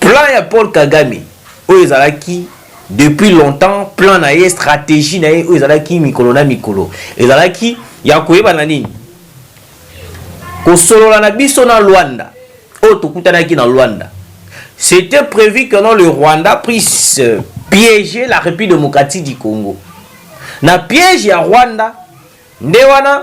Plan ya Paul Kagame oyo ezalaki depuis longtemps plan na ye strategie na ye oyo ezalaki mikolo na mikolo ezalaki ya koyeba na nini kosolola na biso na Luanda oyo tokutanaki na Luanda c'était prévu que non le Rwanda puisse euh, piéger la République démocratique du Congo na piège ya Rwanda nde wana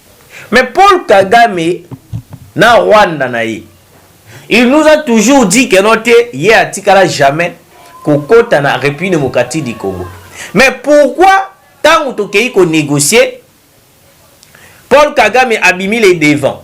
Mais Paul kagame na Rwanda na ye il nous a toujours dit que non te ye atikala jamais kokota na Republique Democratique du Congo mais pourquoi tango tokeyi ko negocier Paul kagame abimi le devant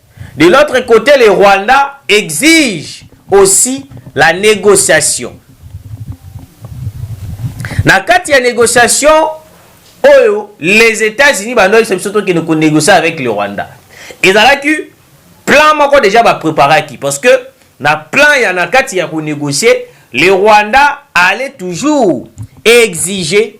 De l'autre cote le Rwanda exige aussi la negociation. Na kati ya negociation oyo les Etats-Unis bando yebisa biso tokende ko negocier avec le Rwanda. Ezalaki plan moko deja ba preparaki parce que na plan ya na kati ya ko negocier le Rwanda allait toujours exiger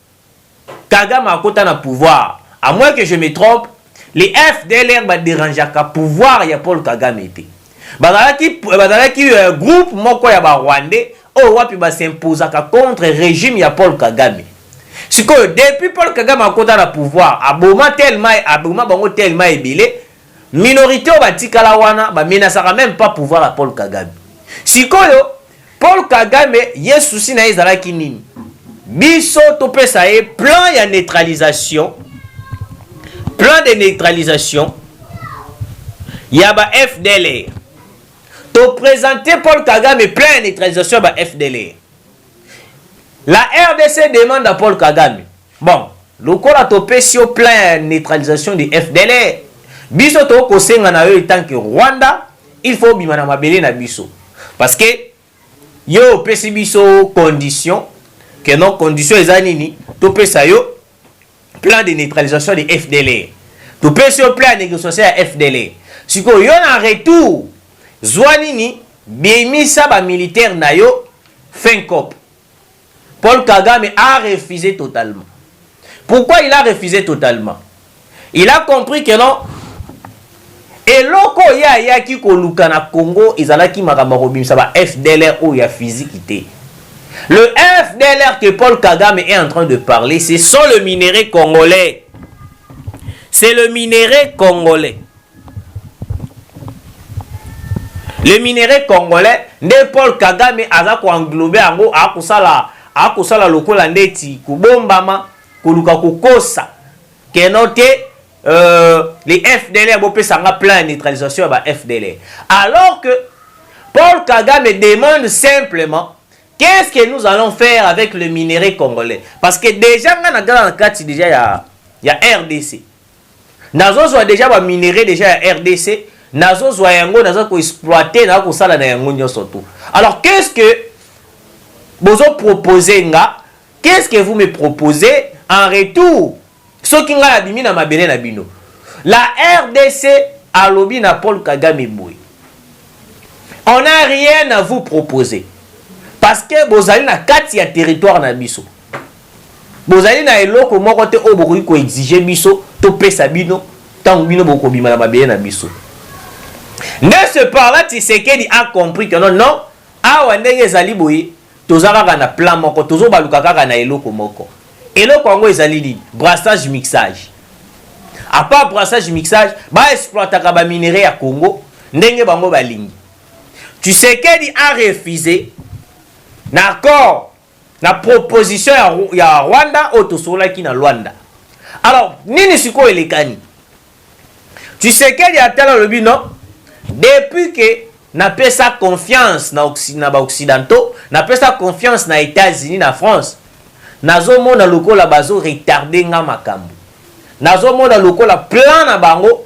kagame akota na pouvoir a moins que je me trompe les FDLR ba derangeaka pouvoir ya Paul kagame te bazalaki bazalaki groupe moko ya ba rwandais oyo wapi ba s'imposaka contre regime ya Paul kagame sikoyo depuis Paul kagame akota na pouvoir aboma tellement aboma bango tellement ebele Minorite oyo batikala wana ba menasaka meme pas pouvoir ya Paul Kagame. Sikoyo Paul Kagame ye souci naye ezalaki nini? Biso topesa ye plan ya neutralisation, plan de neutralisation ya ba FDLR. To presenter Paul Kagame plan ya neutralisation ya ba FDLR. La rdc demande à Paul Kagame Bon lokola topesi yo plan ya neutralisation de FDLR biso tokoki kosenga na yo etant que Rwanda il faut obima na mabele na biso parce que yo opesi biso condition que non condition eza nini topesa yo plan de neutralisation de FDLR topesi yo plan ya negociation ya FDLR sikoyo yo na retour zwa nini bimisa ba militaire na yo fin cop Paul Kagame a refuse totalement. Pourquoi il a refuse totalement? Il a compris que non, eloko ye ayaki koluka na Congo ezalaki makambo ya kobimisa ba FDLR oyo ya fiziki te. Le FDLR que Paul Kagame est en train de parler, ce sont le minerais congolais. C'est le minerais congolais. Les minerais congolais nde Paul Kagame aza ko englober yango akosala akosala lokola ndeti kobombama koluka kokosa que non te euh, les FDLR bopesa nga plan ya neutralisation ya ba FDLR alors que Paul Kagame demande simplement qu'est-ce que nous allons faire avec le minerai congolais parce que déjà nga na gala na kati déjà ya ya RDC Nazo zwa dejà ba minerais dejà ya rdc, nazo zwa yango naza ko exploiter naza kosala na yango nionso tout. Alors qu'est ce que bozo proposer nga? Qu'est ce que vous me proposez en retour soki ngai na bimi na mabele na bino? La rdc alobi na Paul Kagame boye on a rien à vous proposer parce que bozali na kati ya territoire na biso. Bozali na eloko moko te oyo bokoki ko exiger biso topesa bino tango bino bokobima na mabele na biso. De ce par là, Tshisekedi a compris que non, non, awa ndenge ezali boye, toza kaka na plan moko, tozo baluka kaka na eloko moko. Eloko yango ezali nini? Brassage-mixage. A part brassage-mixage, ba exploitaka ba minerais ya Congo ndenge bango balingi. Tshisekedi a refuser na accord Na proposition ya ya Rwanda oyo tosololaki na Luanda. Alors nini sikoyo elekani? Tshisekedi atali alobi non depuis que napesa confiance na occi na ba occidentaux, napesa confiance na Etats Unis na France, nazomona lokola bazo retarder nga makambo. Nazomona lokola plan na bango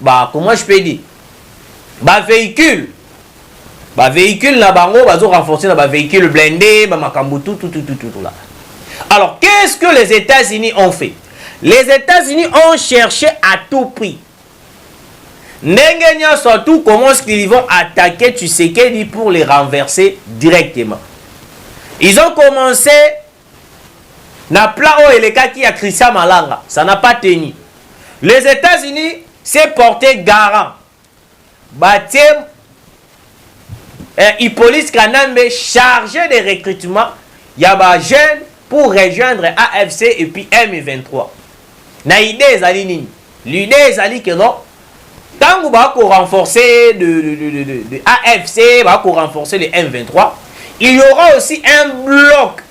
Ba comment je peux dire ba vehicules ba vehicules na bango bazo renforcer na ba vehicules blindés ba makambo tout tout tout tout là. Alors qu'est-ce que les États-Unis ont fait? Les États-Unis ont cherché à tout prix ndenge nyonso tout comment ce qu'ils vont attaquer Tshisekedi pour les renverser directement. Ils ont commencé na plan oyo elekaki ya Christian Malanga, ça n'a pas tenu. Les Etats-Unis s'est porte garant, batie eh, Hippolyte Kanambe charge de recrutement ya ba jeunes pour rejoindre AFC et puis M23. Na idée ezali nini? L'idee ezali que non tangu ba ko renforcer le, le, le, le, le, le AFC, ba ko renforcer le M23, il y aura aussi un bloc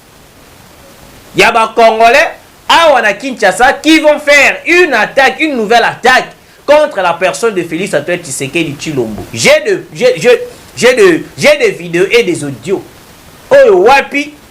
ya ba Congolais awa na Kinshasa qui vont faire une attaque, une nouvelle attaque contre la personne de Félix Antoine Tshisekedi Tshilombo. J'ai de, j'ai, j'ai, j'ai de, j'ai des vidéos et des audios. Oyo wapi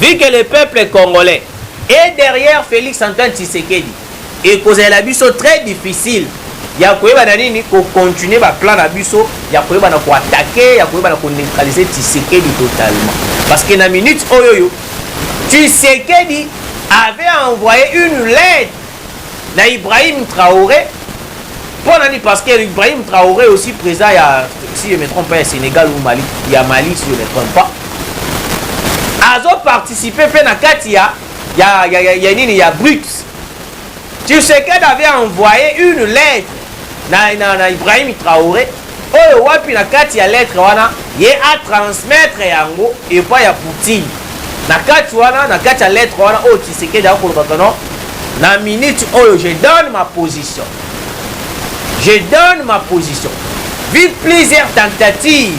Vu que le peuple congolais est derrière Felix Antoine Tshisekedi, ekozalela biso très difficile ya koyeba na nini ko continuer ba plan na biso ya koyeba na ko attaquer ya koyeba na ko neutraliser Tshisekedi totalement parce que na minute oyo oyo Tshisekedi avait envoyé une lettre na Ibrahim Traoré mpo nani parce que Ibrahim Traoré aussi président ya si je me trompe pas ya Sénégal ou Mali ya Mali si je me trompe pas azo participer mpe na kati ya ya, ya, ya, ya nini ya BRICS Tshisekedi avait envoyé une lettre na, na, na Ibrahim Traore oyo wapi na kati ya lettre wana ye a transmettre yango epa ya Poutine na kati wana na kati ya lettre wana oyo Tshisekedi akoloba kono na minute oyo je donne ma position je donne ma position vu plusieurs tentatives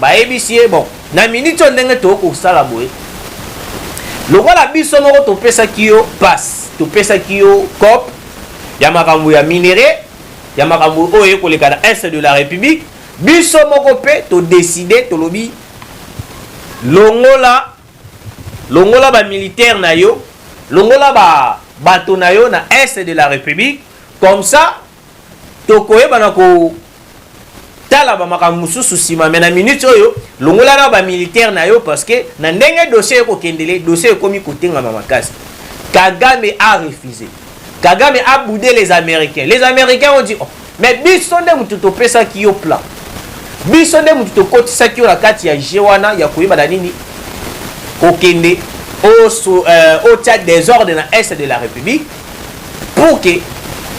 Bayebisi ye, Bon, na miniti oyo ndenge tokoki kosala boye, lokola biso moko topesaki yo pasi, topesaki yo coop ya makambo ya minerais, ya makambo oyo eye koleka na Est de la Republique, biso moko mpe to decider, tolobi longola, longola ba militaires na yo, longola ba bato na yo na Est de la Republique, comme ça tokoyeba na ko tala ba makambo mosusu nsima me na minute oyo longola na ba militaire na yo parce que na ndenge dossier ekokendele dossier ekomi kotengama makasi kagame a refuse kagame a boude les américains les américains ont dit oh, mais biso nde motu topesaki yo plan biso nde motu tokotisaki yo na kati ya je wana ya koyeba na nini kokende otia euh, desordre na est de la république pour que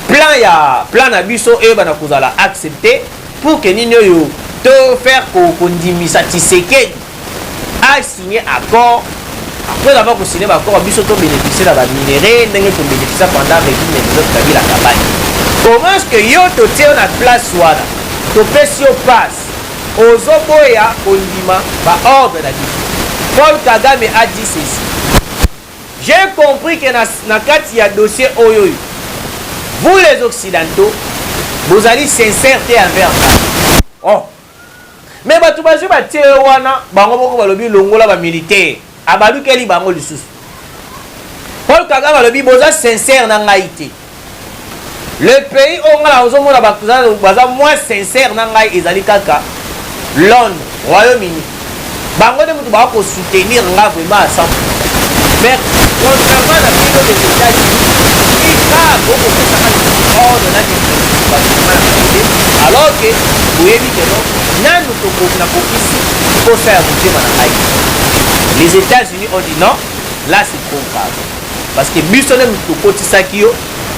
plan ya plan na biso eyebana kozala accepte pour que nini oyo to faire kondimisa tisekedi asigne accord après avoir kosigne baaccord ya biso tobénéficie na baminerai ndenge tobénéficia pendant régime ya joseph kabila kabani comment ce que yo totie yo na place wana topesi yo passe ozoboya kondima baordre na biso paul kagame a dit ceci J'ai compris que na, na kati ya dossier oyoyo vous les occidentaux bozali sincère te envers ngai oh. me bato bazwi batie yo wana bango moko balobi longola bamilitaire abalukeli bango lisusu paul kagame alobi boza sincère na ngai te Le pays oyo nga na ozo mona bato baza moins sincère na ngai ezali kaka Londres, Royaume Uni. Bango nde moto bako soutenir nga vraiment à 100%. Mais contrairement na bino les États-Unis, ika boko pesaka lisusu ordre na bino alors que boyebi que non nanu tokoki na kokisi posa ya motema na ngai. Les États-Unis ont dit non, là c'est trop grave. parce que biso nde moto tokotisaki yo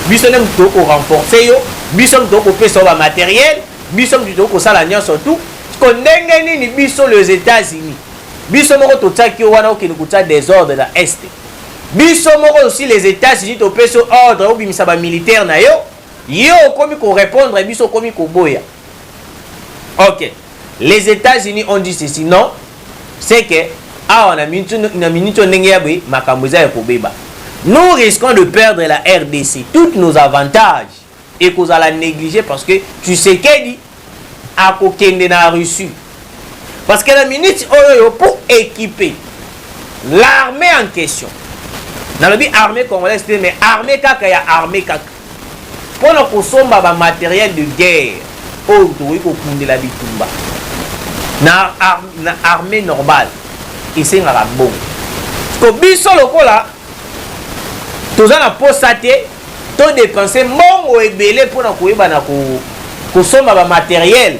biso nde moto tokoki korenforce yo biso moto tokoki kopesa yo bamateriel biso moto tokoki kosala nyonso tu ko ndenge nini biso les états-unis biso moko totiaki yo wana okende kotia desordre na est biso moko osi les états-unis topesi yo ordre obimisa bamilitaire na yo yo okomi korepondre biso okomi koboya ok Les Etats Unis ont dit ceci non c'est que awa na minute oyo ndenge ya boye makambo eza ya kobeba nous risquons de perdre la rdc toutes nos avantages ekozala négligé parce que tshisekedi akokende na russie parce que na minute oyo oyo pour équiper l'armée en question nalobi armée congolaise te mais armée kaka ya armée kaka mpo na kosomba ba materiels de guerre oyo tokoki kokundela bitumba. Na armee normale, esengaka mbongo. Sikoyo biso lokola toza na mposa te to depenser mbongo ebele mpo na koyeba na kosomba ba materiels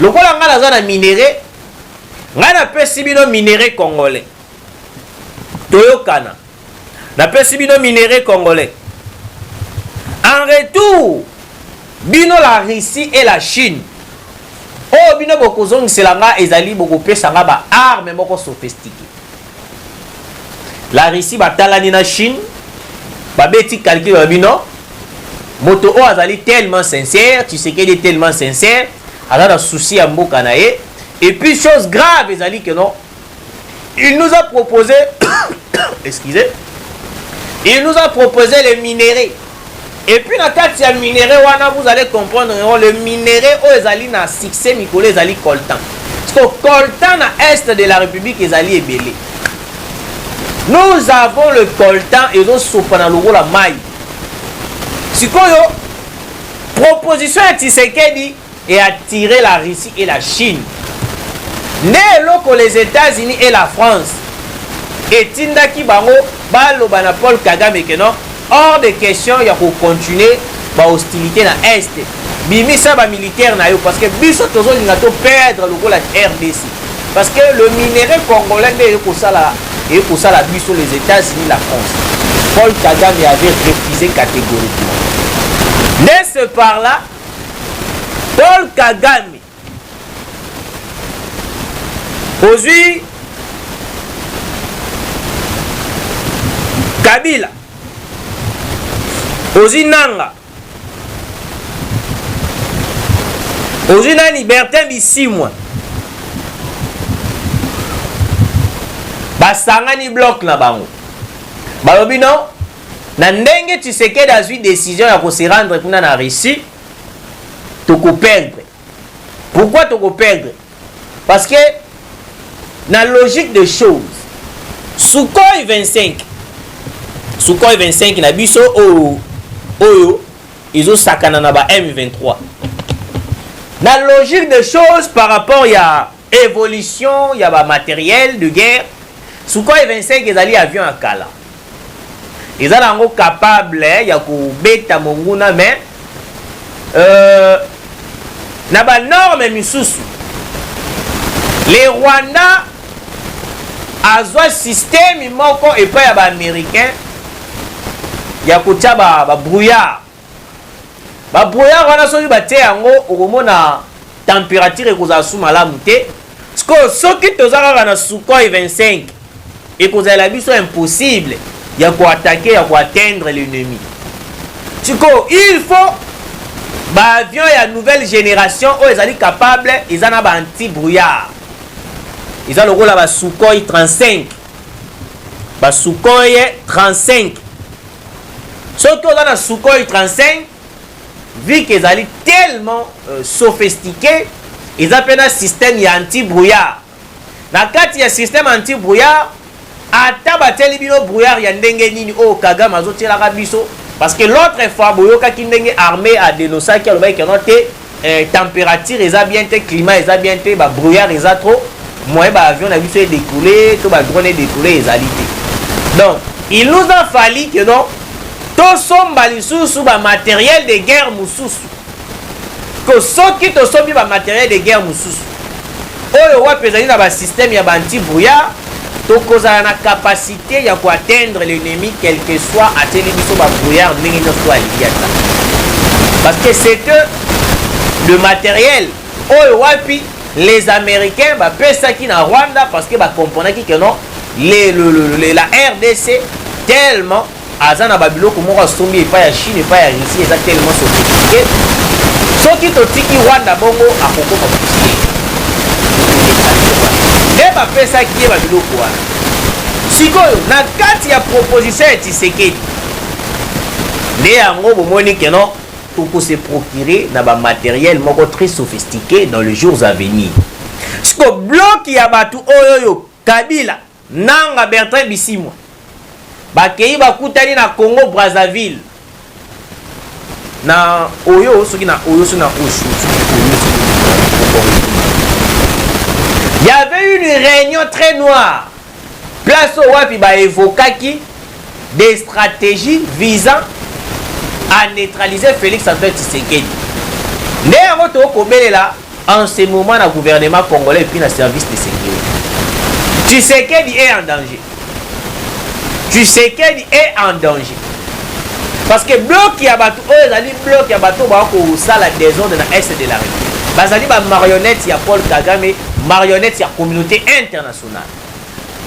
lokola ngai naza na minere ngai napesi bino minere congolais toyokana napesi bino minere congolais en retour bino la russie et la chine oyo bino bokozongisela ngai ezali bokopesa ngai baarme moko sophistique la Russie batalani na Chine babeti calcul ya bino moto oyo azali tellement sincère Tshisekedi est tellement sincère aza na souci ya mboka na ye et puis chose grave ezali que non il nous a proposé excusez il nous a proposé les minerais Et puis na kati ya minerais wana vous allez comprendre que le minerai oyo ezali na succès mikolo ezali coltan siko coltan na est de la république ezali ebele nous avons le coltan ezosopa na lokola mai sikoyo proposition ya tshisekedi et attirer la Russie et la Chine nde eloko les Etats-Unis et la France etindaki bango baloba na Paul Kagame que non hors de question ya ko continuer ba hostilité na Est bimisa ba militaire na yo parce que biso tozolinga to perdre lokola RDC parce que le minerai congolais nde ekosala ekosala biso les Etats-Unis la France Paul Kagame avait refusé catégoriquement de ce par là Paul Kagame ozwi Kabila ozwi Nanga ozwi nani Bertin Bisimwa basangani bloc na bango balobi non Na ndenge Tshisekedi azui decision ya ko se rendre kuna na Russie, toko perdre. Pourquoi toko perdre? Parce que na logique de choses, Sukhoi 25, Sukhoi 25 na biso oyo oyo ezo sakana na ba M23. Na logique de choses par rapport ya Evolution ya ba materiel de guerre Sukhoi 25 ezali avion ya kala eza na yango capable ya kobeta monguna mais euh, na banorme misusu le rwanda azwa systeme moko epai ya baaméricain ya kotya babrouillard ba Ba brouillard wana soki batie yango okomona temperature ekozala su malamu te. Sikoyo soki toza kaka na Sukhoi 25 ekozala biso impossible ya ko attaquer ya ko atteindre l'ennemi. Sikoyo il faut ba avion ya nouvelle generation oyo ezali capable eza na ba anti brouillard. Eza lokola ba Sukhoi 35. Ba Sukhoi 35 Soki oza na Sukhoi 35, vu que ezali tellement euh, sophistiqué, eza mpe na système ya anti-brouillard. Na kati ya système anti-brouillard, ata batieli bino brouillard ya ndenge nini oyo Kagame azotielaka biso, parce que l'autre fois boyokaki ndenge armée adenosaki alobaki keno te Eh, temperature eza bien te, climat eza bien te, ba brouillard eza trop, moyen ba avion na biso e décoller, to ba drone e décoller ezali te. Donc, il nous a fallu que donc tosomba lisusu ba matériel de guerre mosusu. Que soki tosombi ba matériel de guerre mosusu, Oyo wapi ezali na ba systèmes ya ba anti brouillard tokozala na capacite ya ko atteindre l'ennemi quelque soit atieli biso ba brouillard ndenge nionso oyo alingi ata. Parce que c'est que le materiel oyo wapi les americains ba pesaki na Rwanda parce que ba comprenaki que non les, le, le, le, la RDC tellement aza na babiloko moko asombi epai ya chine epai ya russie eza tellement sophistiqué soki totiki rwanda bongo akokoma pusie nde bapesaki ye babiloko wana sikoyo na kati ya proposition ya tisekedi nde yango bomoni keno tokose procurer na bamateriel moko très sophistiqué dans les jours à venir siko bloki ya bato oyo oyo kabila Nanga Bertrand Bisimwa bakeyi bakutani na Congo Brazzaville na oyo soki na oyo soki na oyo Il y avait une réunion très noire. Place au wapi ba evokaki des strategies visant à neutraliser Felix Antoine Tshisekedi. Nde yango tokobelela en ce moment na gouvernement congolais epuis na service de sécurité. Tshisekedi est en danger. Tshisekedi est en danger. Parce que bloc ya bato oyo ezali bloc ya bato baa kosala desordre na est de la République. Bazali ba marionnette ya Paul Kagame, marionnette ya communauté internationale.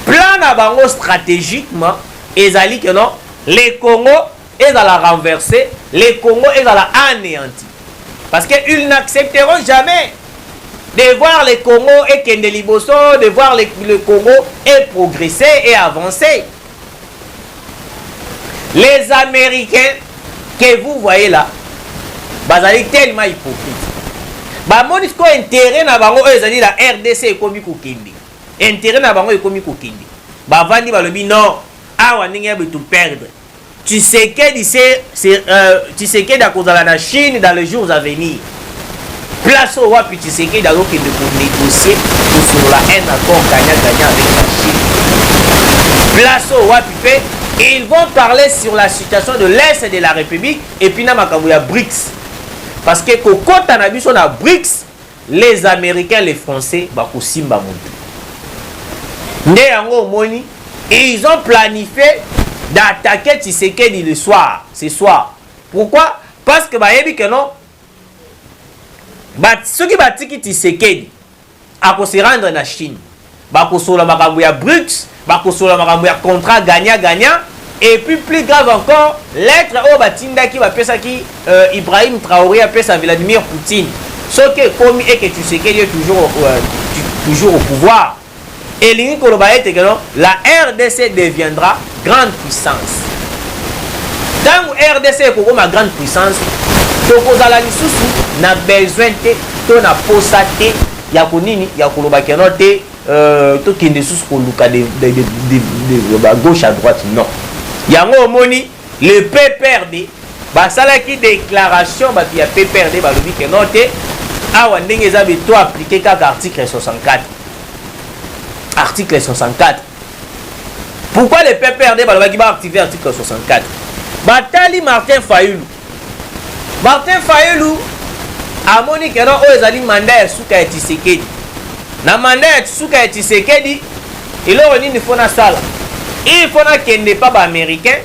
Plan na bango strategiquement ezali que non le Congo ezala renverse, le Congo ezala aneanti parce que ils n'accepteront jamais de voir le Congo ekende liboso, de voir le, le Congo e progresser et avancer. Les Américains que vous voyez là, bazali tellement hypocrite. Bamoni sikoyo intérêt na bango oyo ezali na RDC ekomi kokende. Interet na bango ekomi kokende. Bavandi balobi non, awa ndenge ya to perdre. Tshisekedi se euh, Tshisekedi akozala na Chine dans les jours à venir. Place oyo wapi Tshisekedi azokende ko négocier kosolola un accord gagnant gagnant avec la Chine. Place oyo wapi mpe ils vont parler sur la situation de l'est de la République et puis na makambo ya BRICS. Parce que kokota na biso na BRICS Les americains les français bakosimba mutu nde yango omoni ils ont planifie d'attaquer Tshisekedi le soir ce soir pourquoi parce que bayebi que non ba soki batiki Tshisekedi ako se rendre na Chine Bakosolola makambo ya Brut, bakosolola makambo ya contrat gagnant gagnant et puis plus grave encore lettre oyo batindaki bapesaki euh, Ibrahim Traoré apesa Vladimir Poutine soki ekomi eke Tshisekedi est toujours, euh, toujours au pouvoir elingi koloba ete keno la rdc deviendra grande puissance ntango rdc ekokoma grande puissance tokozala lisusu na besoin te to na posa te ya ko nini ya koloba que non te euh, tokende lisusu koluka de, de, de, de, de, de, ba gauche à droite non yango omoni le pprd basalaki déclaration bato ya pprd balobi que non te awa ndenge eza be to aplike kaka article 64 article 64 pourquoi le pprd balobaki baactive article 64 batali martin fayulu Martin Fayulu amoni que non oyo ezali mandat ya suka ya Tshisekedi. Na mandat ya suka ya Tshisekedi, eloko nini faut nasala? Il faut nakende epa ba Americains,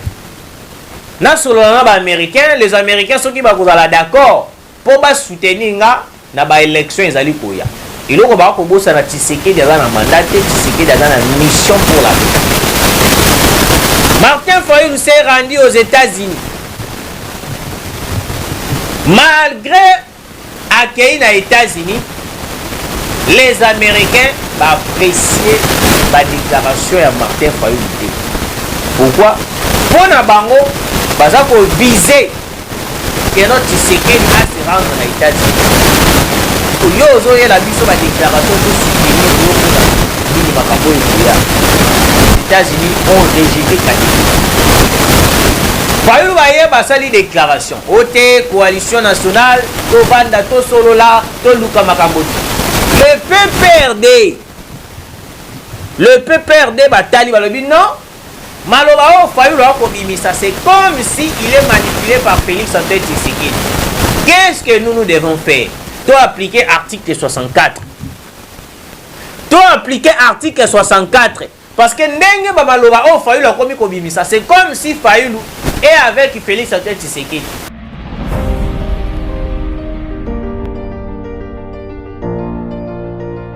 nasolola na ba Americains, les Americains soki bakozala d'accord mpo ba soutenir nga na ba election ezali koya eloko bako kobosana Tshisekedi aza na mandat te Tshisekedi aza na mission pour la Martin Fayulu s'est rendu aux États-Unis malgré accueilli na États-Unis les Américains baapprécier badéclaration ya Martin Fayulu te pourquoi mpo na bango baza kovise Pierrot Tshisekedi a se rendre na Etats-Unis. Yo ozoyela biso ba déclaration to soutenir yo pona nini makambo oyo ekoya. États-Unis ont rejeté catégoriquement. Fayulu baye basali déclaration ote coalition nationale tovanda tosolola toluka makambo te. Le PPRD le PPRD batali balobi non Maloba oyo Fayulu a kobimisa c'est comme si il est manipule par Felix Antoine Tshisekedi. Qu'est-ce que nous nous devons faire? To appliquer article 64. To appliquer article 64 parce que ndenge ba maloba oyo Fayulu akomi kobimisa c'est comme si Fayulu est avec Felix Antoine Tshisekedi.